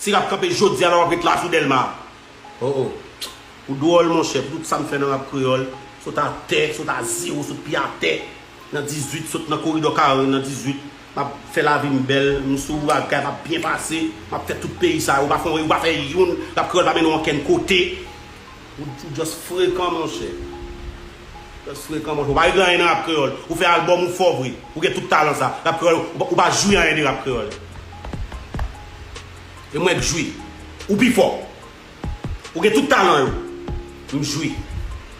Ti rap kanpe jodia la wap ret la sou delma oh oh ou dwòl monchè pou tout sam fè nan rap kreyòl sot atè sot a zero sot pye atè nan 18 sot nan koridò 40 nan 18 map fè lavim bèl m sou bagay map byen pase map fè tout peyi sa yo ou pa fon ou pa fè youn rap kreyòl pa mennen w ankenn kote ou just frekan monchè. Just frekan monche ou pa regle anyen nan rap kreyol ou fè album ou fò vre ou gen tout talan sa rap kreyol ou pa jwi anyen de rap kreyol e mwen k jwi ou pi fò ou gen tout talan yo m jwi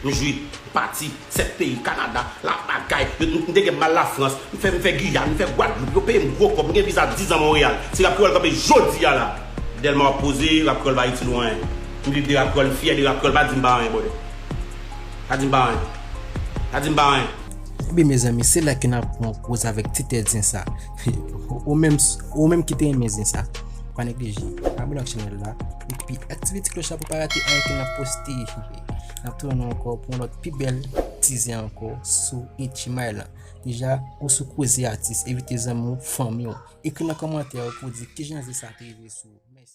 m jwi m pati 7 peyi Canada la bagay m te gen mal la France m fè m fè Guyane m fè Guadeloupe yo peyim gro kob m gen viza 10 ans Montréal si rap kreyol kanpe jodi a la Delma wap poze rap kreyol pa itil ou anyen m viv de rap kreyol m fyè de rap kreyol pa dim pa anyen brother. Pa dim pa anyen. Pa dim pa anyen. Ebyen mezanmi se la ke nap pran poz avèk ti tèt zen sa. Ou menm ou menm ki te renmen zen sa pa neglije abone ak chanèl la epi aktive ti kloch la pou pa rate anyen ke nap poste. Nap tounen nou ankò pou yon lòt pi bèl ti zen ankò sou Etchymy la. Deja ou sou koze atis, envite zanmi ou, fanmi ou. Ekri nan kòmantè ou pou di kijan zen sa te rive sou ou. Mèsi.